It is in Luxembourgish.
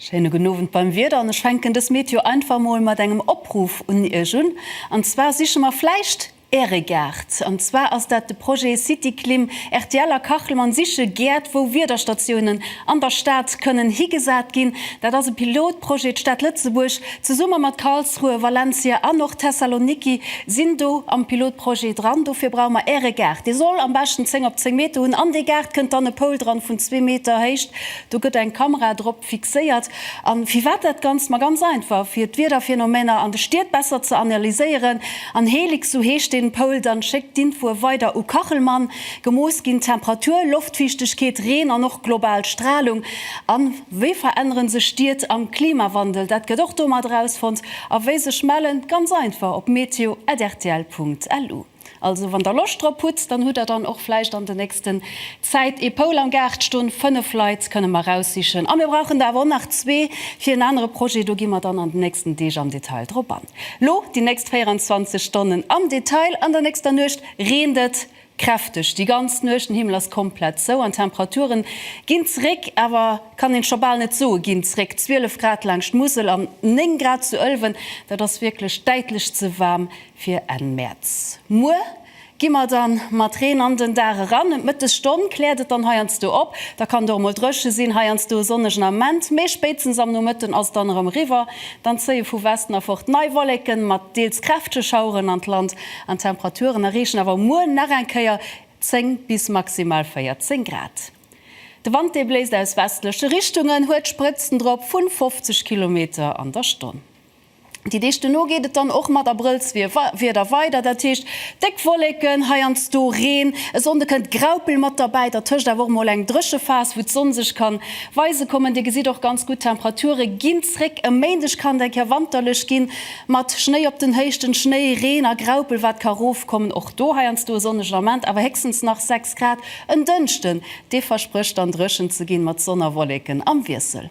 Schéine gudden Owend beim Wieder an ech fänken dës Meteo einfach mol mat engem Opruff un Iech un an zwar siche mer vläicht Äre Gaart. An zwar ass dat de Projet Cityklim. Rtl a Kachelmann siche Gäert, wou Wiederstatiounen an der Stad kënnen higesat ginn. Dat ass e Pilotprojet. D'Stad Lëtzebuerg zesumme mat Karlsruhe, Valencia an och Thessaloniki sinn do am Pilotprojet dran. Dofir brauche mer Äre Gaart. Dee soll am beschten 10 op 10 Meter hunn. An dee Gaart kënnt dann e Poul dran vun zwee Meter Héicht. Do gëtt eng Kamera drop. fixéiert an firwat dat ganzt? Ma ganz einfach fir d'Wiederphenomeener an de Stied besser ze analyséieren an Helix, sou heescht den Poul, dann schéckt d'Infoe weider u Kachelmann. Gemooss ginn Temperatur, Loftfiichtegkeet, Reen an och global Stralung. An wéi veränneren sech Stied am Klimawandel? Dat gëtt och do mat erausfonnt. A wéi sech mellen? Ganz einfach op meteo@rtl.lu. Also wann der Loscht drop hutt, dann hutt der dann och vläicht an de nächsten Zäit ee Poul am Gaart ston. Fënnef Leit kënne mer raussichen a mir brauchen der awer och nach zwee fir en anere Projet. Do gi mer dann an den nächsten Deeg am Detail drop an. Lo déi nächst 24 Stonnen am Detail, An der nächster Nuecht reent et kräfteg déi ganz Nuecht, den Himmel ass komplett zou an d'Temperature ginn zeréck, awer kann een scho bal net soen, ginn zeréck. 12 Grad laangscht d'Musel an 9 Grad zu Ëlwen, dat ass wierklech däitlech ze waarm fir Enn Mäerz. Muer gi mer dann mat Reen an den Dag eran. Ëm d'Mëttesstonn kläert et dann heiansdo op. Da kann et och emol dréche sinn. Heiansdo e sonnegen Ament, mee spéitstens am Nomëtten ass et dann erëm eriwwer. Dann zéie vu Westen erfort nei Wolleken mat deels kräftege Schaueren an d'Land an d'Temperaturen erreechen awer muer nach eng Kéier 10 bis maximal 14 Grad. De Wand, dee bléist aus westleche Richtungen, huet Sprëtzen drop vu 50 Kilometer an der Stonn. Déi Deeg dono geet et dann och mat Abrëllswieder weider, dat heescht déck Wolleken, heiansdo Reen. E Sonnde kënnt Graupel mat derbäi, dertëscht awer och mol eng Dréchephas, wou d'Sonn sech kann weise kommen. Dir gesitt och ganz gutt, d'Temperature ginn zréck. E Méindeg kann et eng Kéier wanterlech ginn, mat Schnéi op den Héichten, Schnéi, Reen a Graupel wat ka rofkommen. Och do heiansdo e sonnegen Ament, awer héchstens nach 6 Grad. En Dënschden, dee versprécht dann dréchen ze ginn, mat Sonn a Wolleken am Wiessel.